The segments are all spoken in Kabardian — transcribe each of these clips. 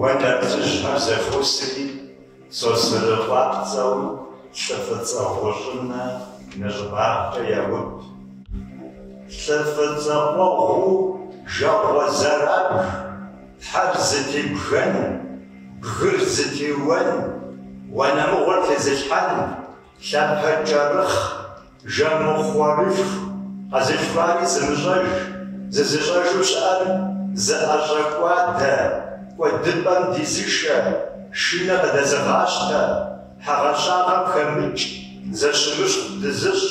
Уэ нартыжьхэр зэхуосри, Сосрыкъуапцӏэу лӏы фӏыцӏэ гъущӏынэ нэщӏыбагъкӏэ яуб. Лӏы фӏыцӏэ къуэгъуу жагъуэ зэрабж. Тхьэр зытебгэн, бгыр зытеуэн, уанэмыгъуэр тезылъхьэн, лъапэ кӏэрыхъ, жэмыхъуэрылъху къэзылъхуари зымыщӏэж, зызыщӏэжу щыӏэр зыӏэщӏэкӏуадэ, кӏуэдыпӏэм дизышэ, шынэ къыдэзыгъащтэ, хьэгъэщагъэм хэмыкӏ, зэщымыщхъу дызыщӏ.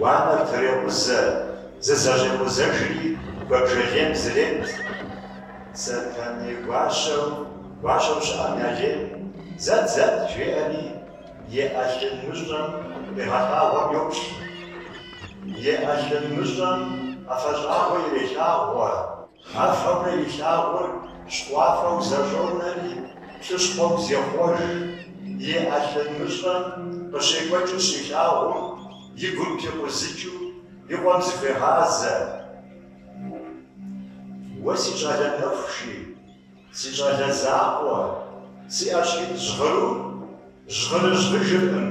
Уанэр трекъузэ, зызэщӏекъузэжри куэбжэлейм зрет. Сэтэней гуащэу, гуащэу щыӏэм я лейм, Зэт, зэт! жеӏэри, и ӏэлъын мыщӏэм къигъэлъагъуэм йоплъ. И ӏэлъын мыщӏэм ӏэфэщӏагъуэ ирелъагъуэ. Гъэфэмрэ и лъагъур щхъуафэу зэщӏонэри, плъыщхъуэу зехъуэж, и ӏэлъын мыщӏэм къыщекӏуэкӏыу щилъагъум, и гум пикъузыкӏыу и къуэм зыхуегъазэ, Уэ си щӏалэ нэхущи, си щӏалэ закъуэ, си ӏэщхьитӏ жьгъырур жьгъырыжьгъыжыркъым.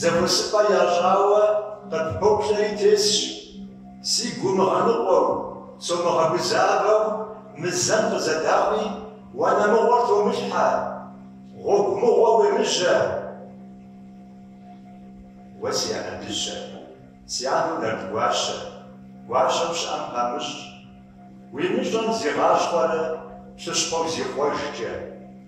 Зэхуэсыпӏэ ящӏауэ къыппоплъэри тесщ, сигу умыгъэныкъуэу, сомыгъэгузавэу мы зэм къызэдаӏуи, уанэмыгъуэр томылъхьэ, гъуэгу мыгъуэ уемыжьэ. Уэ си анэ дыщэ, си анэу нарт гуащэ, гуащэм щыӏэм памыщӏ, уи мыщӏэм зигъэщхъуэрэ плъыщхъуэу зихъуэжкӏэ.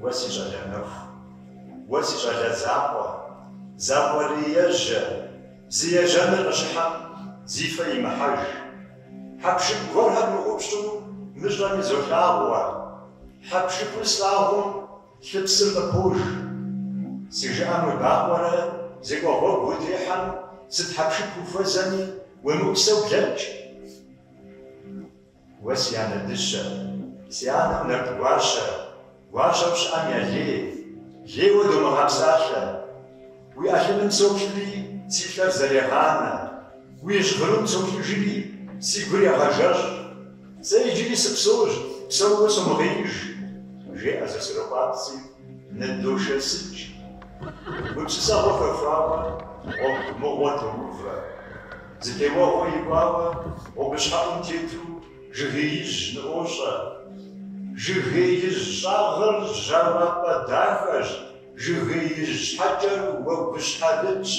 Уэ си щӏалэ нэху, уэ си щӏалэ закъуэ, Закъуэриежьэ, зи ежьэныр къыщыхьэм зи фэ имыхьэж. Хьэпшып гуэрхэр мыӏупщӏу мыщӏэм изолъагъуэ, Хьэпшыпыр слъагъум лъыпсыр къыпож. Си жыӏэм уебакъуэрэ зекӏуэ гъуэгу утехьэм, Сыт хьэпшып ухуэзэми, уемыӏусэу блэкӏ. Уэ си анэ дыщэ, си анэм нарт гуащэ, Гуащэм щыӏэм я лей, лейуэ домыгъэпсалъэ. Уи ӏэлъыным соплъри, си лъэр зэрегъанэ, Уи жьгъырум соплъыжри, си гур егъэжэщӏ. Сэ иджыри сыпсэущ, псэууэ сомыгъеиж, Жеӏэ Сосрыкъуапцӏи, ныдошэсыкӏ. Гупсысэгъуэ хэхуауэ, гъуэгу мыгъуэ тоувэ. Зытеуэгъуэ икӏуауэ гъуэгущхьэӏум тету жыгеижь ныӏуощӏэ. Жыгеижь щӏагъыр жьауапӏэ дахэщ, жыгеижь щхьэкӏэр уэгущхьэлыдщ.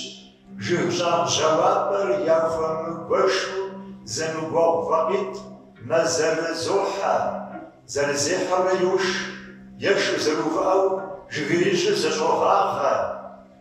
Жыг щӏагъ жьауапӏэр яхуэмыгуэшу зэмыгуэгъу вакъитӏ мэзэрызохьэ, зэрызехьэурэ йош, ешу зэрыувыӏэу жыгеижьыр зэщӏогъагъэ.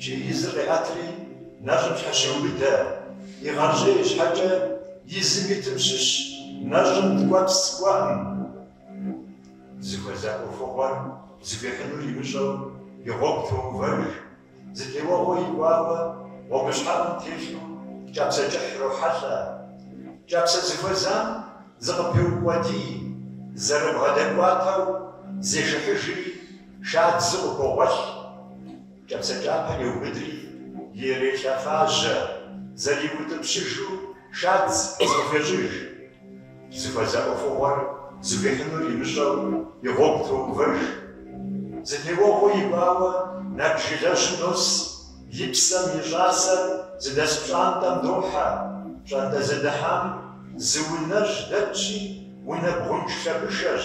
Чей изыр къиӏэтри, нэщӏым щхьэщеубыдэ, игъэщӏей щхьэкӏэ изым итым щыщ нэщӏым ткӏуэпс кӏуэӏым. Зыхуэза ӏуэхугъуэр зыхуихьынур имыщӏэу и гъуэгу тоувэж, зытеуэгъуэ икӏуауэ гъуэгущхьэӏум телъу кӏапсэ кӏыхь рохьэлӏэ. Кӏапсэ зыхуэзам зыкъыпеукъуэдий, зэрыбгъэдэкӏуатэу зешыхьыжри, шадзу къыхогъуэлъ. Кӏапсэ кӏапэр еубыдри, ирелъэфажьэ, зэриутӏыпщыжу шадз къызэхуещӏыж. Зыхуэза ӏуэхугъуэр зыхуихьынур имыщӏэу и гъуэгу тоувэж. Зытеуэгъуэ икӏуауэ нэб жылэжьым нос, и псэм и щӏасэр зыдэс пщӏантӏэм дохьэ, пщӏантӏэ зыдыхьам зы унэжь дэтщи, унэ бгъунж лъэбышэщ.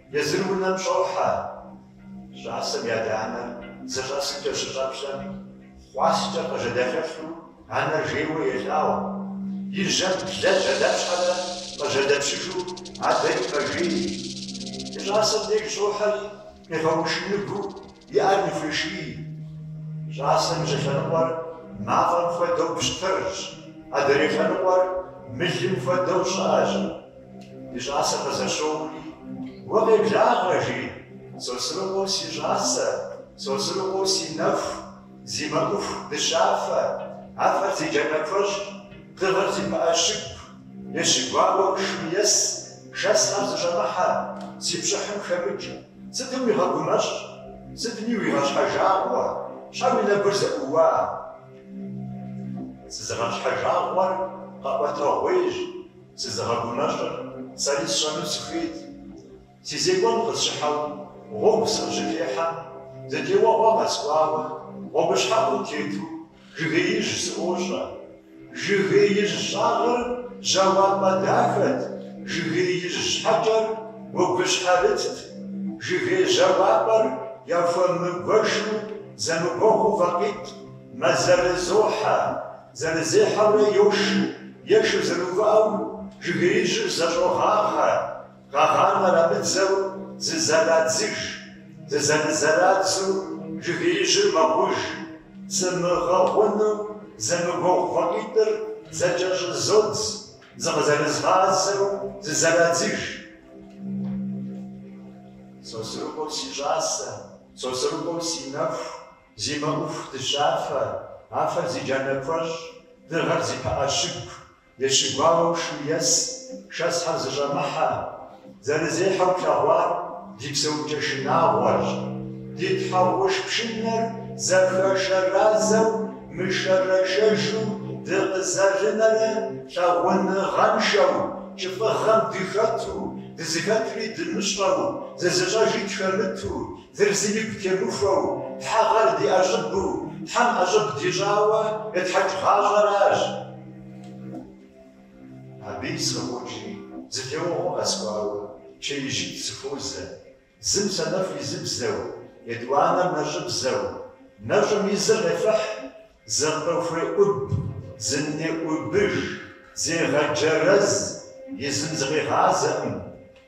Езыр унэм щӏохьэ. Щӏасэм и адэ-анэр зыщӏэсымкӏэ щыщӏэплъэм, хъуаскӏэ къыжьэдэлъэлъу анэр жейуэ елъагъу. И жьэм блэ жьэдэпщхьэрэ къыжьэдэпщыжу адэри мэжей. И щӏасэм деж щӏохьэри, къигъэушыныгу И ӏэр ныхуеший, щӏасэм и щӏылъэныкъуэр мафӏэм хуэдэу пщтырщ, адрей лъэныкъуэр мылым хуэдэу щӏыӏэщ. Ди щӏасэр къызэщоури, Уэ къеблагъэ, жи, Сосрыкъуэу си щӏасэ, Сосрыкъуэу си нэху, зи мэӏуху дыщафэ, афэр зи джанэ куэщӏ, дыгъэр зи пыӏэ щыгу, ещыгуауэ шым ес, шэсхэр зыщӏэмыхьэ, си пщӏыхьым хэмыкӏ. Сытым уигъэгумэщӏ, сытым уигъэщхьэжагъуэ, щхьэ уи нэгур зэӏууа? Сызыгъэщхьэжагъуэр къэӏуэтэгъуейщ, сызыгъэгумэщӏыр сэри сщӏэну сыхуейт. Си зекӏуэн къысщыхьэу гъуэгу сыкъыщытехьэм, зытеуэгъуэ къэскӏуауэ гъуэгущхьэӏум тету Жыгеижь сыӏуощӏэ. Жыгеижь щӏагъыр жьауапӏэ дахэт, жыгеижь щхьэкӏэр уэгущхьэрытт. Жыгей жьауапӏэр яхуэмыгуэшу зэмыгуэгъу вакъитӏ мэзэрызохьэ, зэрызехьэурэ йош, ешу зэрыувыӏэу жыгеижьыр зэщӏогъагъэ. Къэгъанэр абыдзэу зызэрадзыж, зызэрызэрадзэу жыгеижьыр мэгъуж, зымыгъэгъуэну зэмыгуэгъу фӏэкъитӏыр зэкӏэ щӏызодз, зыкъызэрызгъазэу зызэрадзыж. Сосрыкъуэу си щӏасэ, Сосрыкъуэу си нэху, зи мэӏуху дыщафэ, афэр зи джанэ куэщӏ, дыгъэр зи пыӏэ щыгу, Ещыгуауэу шу ес, шэсхэр зыщӏэмыхьэ, зэрызехьэу плъэгъуар ди псэукӏэ шынагъуэрщ. Ди тхьэгъуш пшынэр зэхэшэразэу мышэрэшэжу дыкъызэрынэрэ лъагъуныгъэншэу, кӏыфӏыгъэм дыхэту, дызыхэтри дымыщӏэу, зызыщӏэжи тхэмыту, дыр зыми гу темыхуэу, тхьэгъэр ди ӏэщӏыбу, тхьэм ӏэщӏыб дищӏауэ етхьэкӏ гъащӏэращ. Абыи сыкъыӏукӏи, зы теуэгъуэ къэскӏуауэ, чеижьитӏ сыхуозэ, зым санэфӏ изыбзэу, етӏуанэр нэщӏыбзэу, нэщӏым изыр къефыхь, зыкъыхуеӏуб, зынеӏубыж, зегъэджэрэз, изым зыкъигъазэкъым.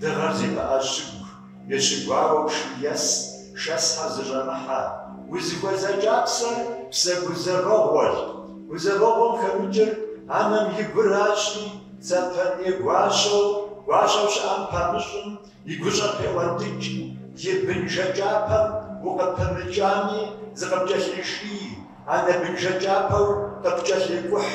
Дыгъэр зи пыӏэ щыгу ещыгуауэу шым ес, шэсхэр зыщӏэмыхьэ, узыхуэза кӏапсэр псэ гузэвэгъуэщ. Гузэвэгъуэм хэмыкӏыр анэм и гуращи, Сэтэней гуащэу, гуащэу щыӏэм памыщӏым и гущӏэр пеӏуэнтӏыкӏ, и бынжэ кӏапэм укъыпымыкӏами, зыкъыпкӏэлъиший, анэ бынжэ кӏапэу къыпкӏэлъекӏухь.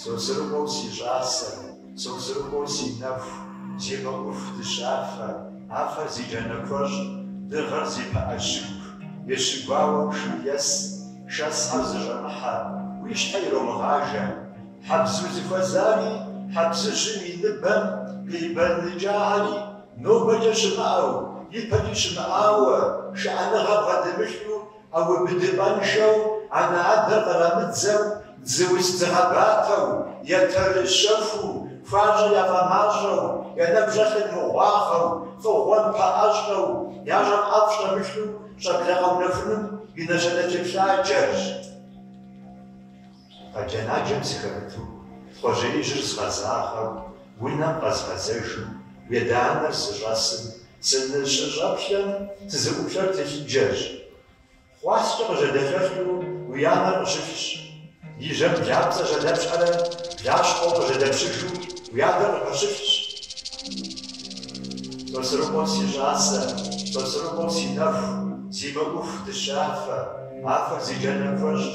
Сосрыкъуэу си щӏасэ, Сосрыкъуэу си нэху, зи мэӏуху дыщафэ, афэр зи джанэ куэщӏ, дыгъэр зи пыӏэ щыгу, ещыгуауэу шым ес, шэсхьэр зыщӏэмыхьэ, уи щхьэ иромыгъажэ. Хьэбз узыхуэзари хьэбзыжьым и ныбэм къибэныкӏагъэри, нобэкӏэ щымыӏэу, ипэкӏи щымыӏауэ, шыӏэныгъэ бгъэдэмылъу ӏэубыдыпӏэншэу анэ-адэр кърамыдзэу, дзы уз дыгъэбатэу, етэрыжь щэхуу, хуащӏэр яфӏэмащӏэу, я нэм щӏэлъыр мыгъуагъэу, фӏыгъуэм пэӏэщӏэу, ящӏэм ӏэфӏ щӏэмылъу щӏэблэ къэунэхуным и нэщэнэ телъыджэщ. Къэджэ-наджэм сыхэмыту, Тхъуэжьеижьыр згъэзагъэу, унэм къэзгъэзэжу, уи адэ-анэр зыщӏэсым, сыныщыщӏэплъэм, сызыӏуплъэр тылъыджэщ. Хъуаскӏэ къыжьэдэлъэлъу уи анэр къыщылъщ. И жьэм блапцӏэ жьэдэпщхьэрэ блащхъуэу къыжьэдэпщыжу уи адэр къыпэщылъщ. Сосрыкъуэу си щӏасэ, Сосрыкъуэу си нэху, Зи мэӏуху дыщафэ, Афэр зи джанэ куэщӏщ.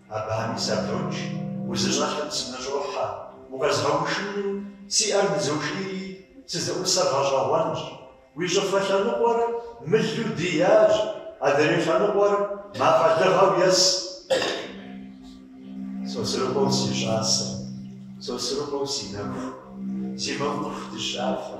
Абыхэми сапхрокӏ, узыщӏэлъыр сыныщӏохьэ, укъэзгъэушыну си ӏэр нызошийри, сызыӏусэр гъэщӏэгъуэнщ. Уи щӏыфэ лъэныкъуэр мылу диящ, адрей лъэныкъуэр мафӏэлыгъэу ес. Сосрыкъуэу си щӏасэ, Сосрыкъуэу си нэху, Зи мэӏуху дыщафэ.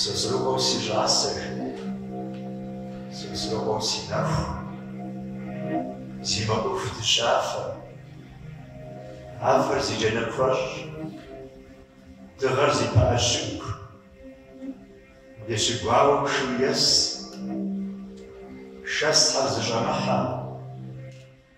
Сосрыкъуэу си щӏасэ. Сосрыкъуэу си нэху. Зи мэӏуху дыщафэ. Афэр зи джанэ куэщӏ. Дыгъэр зи пыӏэ щыгу. Ещыгуауэ пшым ес. Шэсхьэр зыщӏэмыхьэ.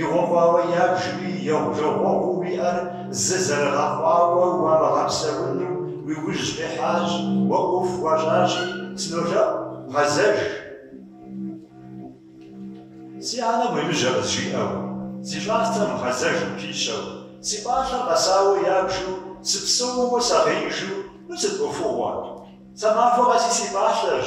Игъуэ хъуауэ ябжри, егъужагъуэгъуу уиӏэр зы зэрыгъэхъуауэ уамыгъэпсэуну уи ужь къихьащ, уэ ӏуэху уащӏащи, сынолъэӏу, гъэзэж. Си анэм уемыжьэ къызжиӏэу, си щӏасэм гъэзэж къыпищэу, си пӏалъэр къэсауэ ябжу, сыпсэууэ сагъеижу, ну сыт ӏуэхугъуэ? Сэ махуэ къэси си пӏалъэщ.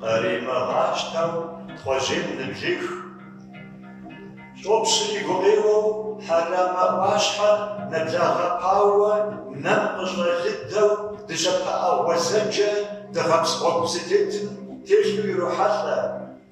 Къримыгъащтэу тхъуэжьейм ныблех. Щӏопщыр и гукъеуэу Хьэрамэ ӏуащхьэр нэблагъэпауэ нэм къыщӏэлыдэу дыщэ пыӏэ гъуэзэджэ дыгъэпс гъуэгу зытетым телъу ирохьэлӏэ.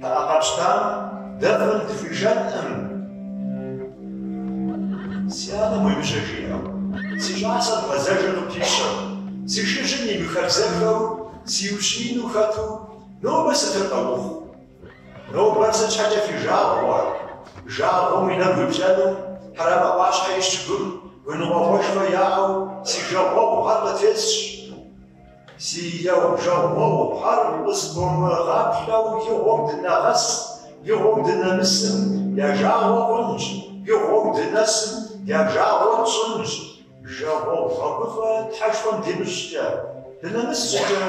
Пыӏэр къэпщтэм дэ фӏым дыхуишэнкъым. Си анэм уемыжьэ жиӏэу, си щӏасэм гъэзэжыр къыпищэу, си шыжьым имыхабзэххэу сиущиину хэту нобэ сытыр къэухъу? Нобэр сыт щхьэкӏэ фи жагъуэ? Жагъуэм уи нэгу иплъэну Хьэрэмэ ӏуащхьэ и щыгум гуныкъуэгъуэшхуэ яӏэу си жагъуэгъухэр къытесщ. Си егъужагъуэгъухэр къыспомыгъаплъэу игъуэу дынэгъэс, игъуэу дынэмысым я жагъуэ хъунщ, игъуэу дынэсым я жагъуэ тщӏынщ. Жагъуэгъу гъэгуфӏэ Тхьэшхуэм димыщӏкӏэ, дынэмыс щӏыкӏэ,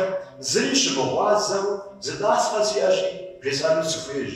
зыри щымыгъуазэу зы тӏасхъэ сиӏэщи, бжесӏэну сыхуейщ.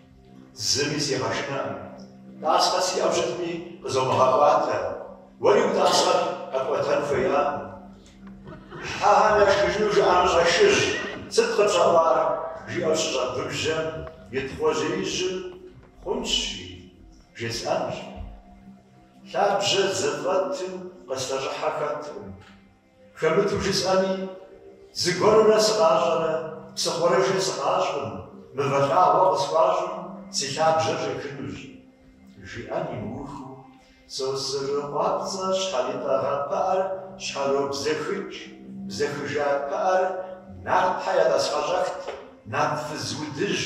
Зыми сигъэшынэкъым. Тӏасхъэ сиӏэу щытми, къызомыгъэӏуатэ. Уэри уи тӏасхъэр къэпӏуэтэн хуеякъым. Хьэхэм яшхыжыну жыӏэмыщӏэ шыжь, сыт къыпщӏэӏуар? жиӏэу щыщӏэгубжьэм, и тхъуэжьеижьым Хъунщ, жи, бжесӏэнщ. Лъабжьэ зыфӏэтым къыслъэщӏыхьэ хэткъым. Хэмыту жысӏэми, зыгуэрурэ сыкъащӏэрэ псыхъуэрыжэ сыкъащӏым, мывэ лъагъуэ къысхуащӏым си лъабжьэр щӏихынущ, жиӏэн имыухыу, Сосрыкъуапцӏэ щхьэритӏэгъа пыӏэр щхьэробзэхыкӏ, бзэхыжа пыӏэр нартхьэ я тӏасхъэщӏэхт нарт фыз удыжь,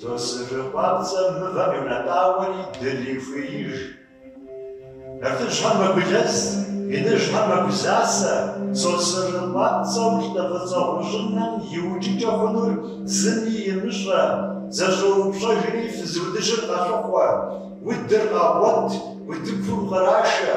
Сосырыкъуапцӏэ мывэм йонэтӏауэри дырихуеиж. Нартыжьхэм мэгулэз, иныжьхэм мэгузасэ, Сосырыкъуапцӏэу лӏы фӏыцӏэ гъущӏынэм иукӏыкӏэ хъунур зыми имыщӏэ, зэщӏоупщӏэжри фыз удыжьыр къалъыхъуэ, удыр къагъуэт, утыкум кърашэ.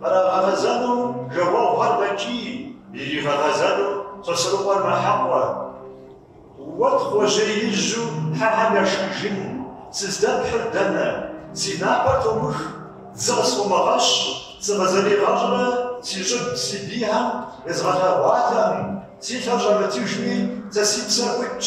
Кърагъэгъэзэну жагъуэгъухэр мэкӏий, иригъэгъэзэну Сосрыкъуэр мэхьэкъуэ. Уэ Тхъуэжьеижьу хьэхэм яшхыжын, сыздэпхьыр дэнэ? Си напэр томых, дзы къысфӏомыгъэщ, сыкъызэригъэщӏрэ си щӏыб, си бийхэм езгъэлъэгъуатэкъым, си лъэр щӏэмытыжми, сэ си псэр ӏутщ.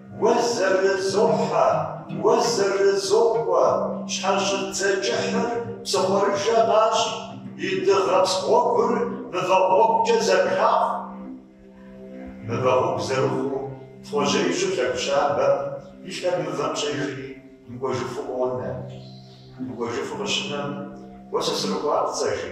Уэ зэрызохьэ, уэ зэрызокъуэ щхьэщыдзэ кӏыхьыр псыхъуэрыжэ къащӏ, и дыгъэпс гъуэгур мывэ гъуэгукӏэ зэпхахъу. Мывэ гъуэгу зэрыхъуу Тхъуэжьеижьу лъэгу щабэм и лъэр мывэм щӏежри мыкӏуэжыфу къонэ. Мыкӏуэжыфу къыщынэм, Уэ Сосрыкъуапцӏэ, жи.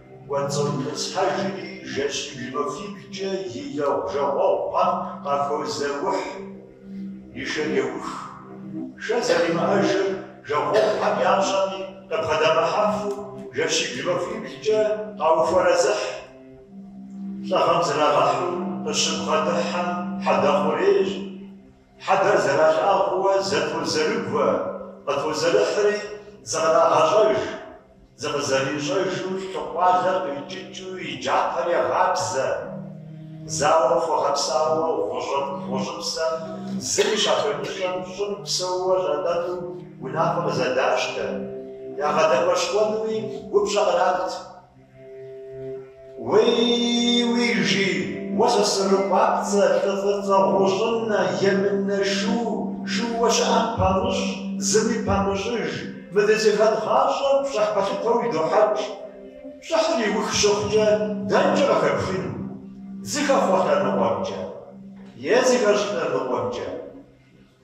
Кӏуэцӏытӏысхьэжри, жэщибл махуиблкӏэ и жагъуэгъухэм къахозэухь, и шэр еух. Шэ зэримыӏэжыр жагъуэгъухэм ящӏэми, къыбгъэдэмыхьэфу, жэщибл махуиблкӏэ къауфэрэзыхь. Лӏыгъэм зрагъэхьу къыщыбгъэдыхьэм хьэдэхъурейщ. Хьэдэр зэралъагъууэ зэтозэрыгуэ къытозэрыхьри, зыкърагъэщӏэж, зыкъызэрищӏэжу лъыкъуалэр къикӏыкӏыу и джатэр егъабзэ. Зауэм хуэгъэпсауэ гъущӏыпсэм зыри щахуемыщӏэм щӏым псэууэ щӏатӏэну унафэ къызэдащтэ. Ягъэдэӏуэшхуэнуи упщӏэ кърат. Уей-уей жи, уэ Сосрыкъуапцӏэ, лӏы фӏыцӏэ гъущӏынэ, емынэ шу, шууэ щыӏэм памыщӏ, зыми памыщӏыж, мы дызыхэт гъащӏэр пщӏыхь пэлъытэу идохьэкӏ. Пщӏыхьыр иух щыхъукӏэ, дэнкӏэ къыхэпхыну? Зыхэхъуэ лъэныкъуэмкӏэ? Е зыхэщӏ лъэныкъуэмкӏэ?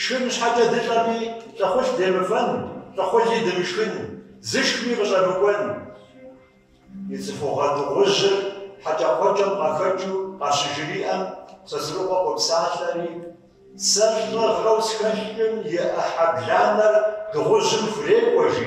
Шхын щхьэкӏэ дылӏэми, лӏыхъужь демыфэн, лӏыхъужьи дымышхын, зышхми къыщӏэмыкӏуэн. И цӏыхугъэ дыгъужьыр хьэкӏэкхъуэкӏэм къахэкӏыу къащыжриӏэм, Сосрыкъуэ къопсалъэри, Сэ лӏыгъэу схэлъым и ӏыхьэ бланэр дыгъужьым хурекӏуэ, жи.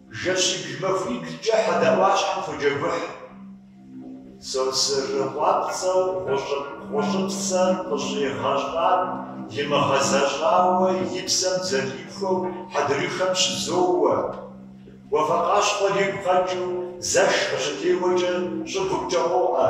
Жэщибл махуиблкӏэ хьэдэ ӏуащхьэм фӏоджэгухь. Сосрыкъуапцӏэу гъущӏыпсэр къыщӏигъэщӏар имыгъэзэщӏауэ и псэм зэрихуэу хьэдрыхэм щызоуэ. Уафэкъащхъуэр игу къэкӏыу зэш къыщытеуэкӏэ щӏыгумкӏэ къоӏэ.